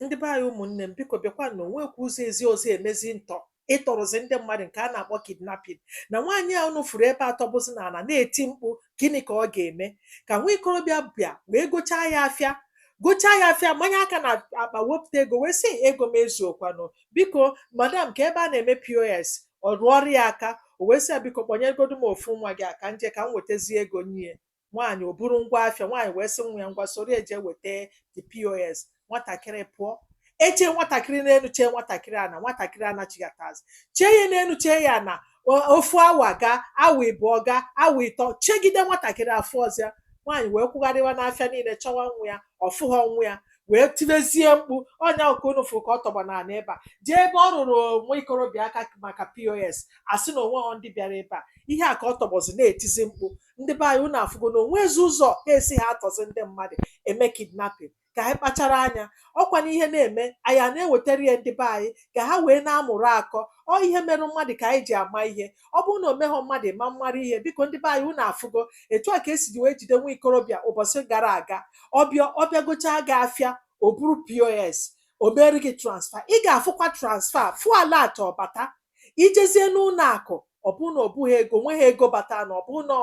ndị be anyị ụmụnne m biko bịakwa na o nwekwa ụzọ ezi ọzọ emezi ntọ ịtọrọzi ndị mmadụ nke a na-akpọ kidnapping na nwaanyị a unu fụrụ ebe a tọgbọzi na ala na-eti mkpu gịnị ka ọ ga-eme ka nwa ikorobịa bịa wee gochaa ya afịa gochaa ya afịa manye aka na akpa wepụta ego wee sị ego m ezuokwanụ biko madam kee ebe a na-eme pos ọ rụọrọ ya aka o wee sị ya biko kpọnyegodu m ofu nwa gị a ka m je ka m wetazie ego nye nwaanyị o buru ngwa afịa nwaanyị wee sị nwa ya ngwa soro ya je weta the pos nwatakịrị pụọ echee nwatakịrị n'enu chee nwatakịrị n'ana nwatakịrị anachighatazi chee ya n'enu chee ya na ofu awa ga awa ịbụọ ga awa ịtọ chegide nwatakịrị afụghọ ọzọ nwaanyị wee kwụgharịwa n'afịa niile chọwa nwa ya ọ fụghọ nwa ya wee tibezie mkpu ọ nya ka unu fụrụ ka ọ tọgbọ na ala ebe a jee ebe ọ rụrụ nwa ikorobịa aka maka pos a sị na o nweghọ ndị bịara ebe a ihe a ka ọ tọgbọzi na-etizi mkpu ndị be anyị unu afụgo na o nwezi ụzọ ha esi ha atọzi ndị mmadụ eme kidnapping ka anyị kpachara anya ọ kwa na ihe na-eme anyị a na-ewetara ya ndị be anyị ka ha wee na-amụrụ akọ ọ ihe merụ mmadụ ka anyị ji ama ihe ọ bụrụ na o meghọ mmadụ ma mmara ihe biko ndị be anyị unu afụgo etu a ka esi ji wee jide nwa ikorobịa ụbọsị gara aga ọ bịa ọ bịa gochaa gị afịa o buru pos o meere gị transfer ị ga-afụkwa transfer fụ alert ọ bata i jezie n'ụnọ akụ ọ bụrụ na ọ bụghị ego nweghị ego batanụ ọ bụrụ na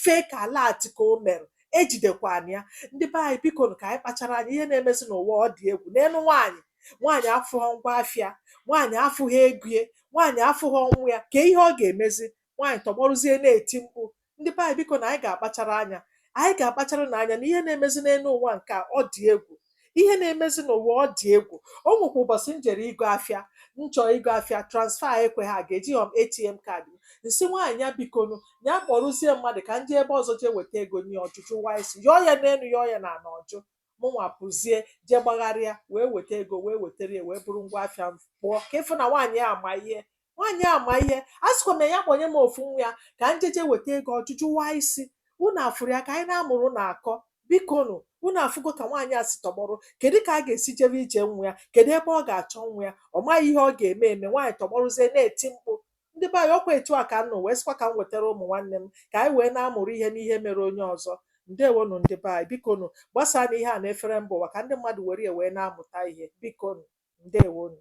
fake alert ka o mere ejidekwana ya ndị be anyị biko ka anyị kpachara anya ihe na-emezi n'ụwa ọ dị egwu neenụ nwaanyị nwaanyị afụghọ ngwa afịa nwaanyị afụghị ego ya nwaanyị afụghị nwa ya kee ihe ọ ga-emezi nwaanyị tọgbọrụzie na-eti mkpu ndị be anyị biko na anyị ga-akpachara anya anyị ga-akpachara na anya na ihe na-emezi n'enu ụwa nke a ọ dị egwu ihe na-emezi n'ụwa ọ dị egwu o nwekwa ụbọsị m jere ịgo afịa m chọọ ịgo afịa transfer ekweghị aga ejighọ m atm kaadị m m sị nwaanyị a bikonu ya kpọrụzie mmadụ ka m je ebe ọzọ jee weta ego nye ọ jụ jụwaa isi yọọ ya n'enu yọọ ya na ala ọ jụ mụnwa pụzie jee gbagharịa wee weta ego wee wetara ya wee buru ngwa afịa m pụọ ka ị fụ na nwaanyị a ma ihe nwaanyị a ma ihe asịkwa m ya ya kpọnye m ofu nwa ya ka m jeje weta ego ọ jụ jụwaa isi unu afụrụ ya ka anyị na-amụrụ na akọ bikonu unu afụgo ka nwaanyị a si tọgbọrọ kedu ka a ga-esi jebe ije nwa ya kedu ebe ọ ga-achọ nwa ya ọ maghị ihe ọ ga-eme eme nwaanyị tọgbọrụzie na-eti mkpu Ndị be anyị, ọ kwa etu a ka m nụ wee sịkwa ka m wetara ụmụ nwanne m ka anyị wee na-amụrụ ihe n'ihe mere onye ọzọ. Ndewonụ ndị be anyị. Bikonụ, gbasaanụ ihe a n'efere mba ụwa ka ndị mmadụ were ya wee na-amụta ihe. Bikonụ. Ndewonụ.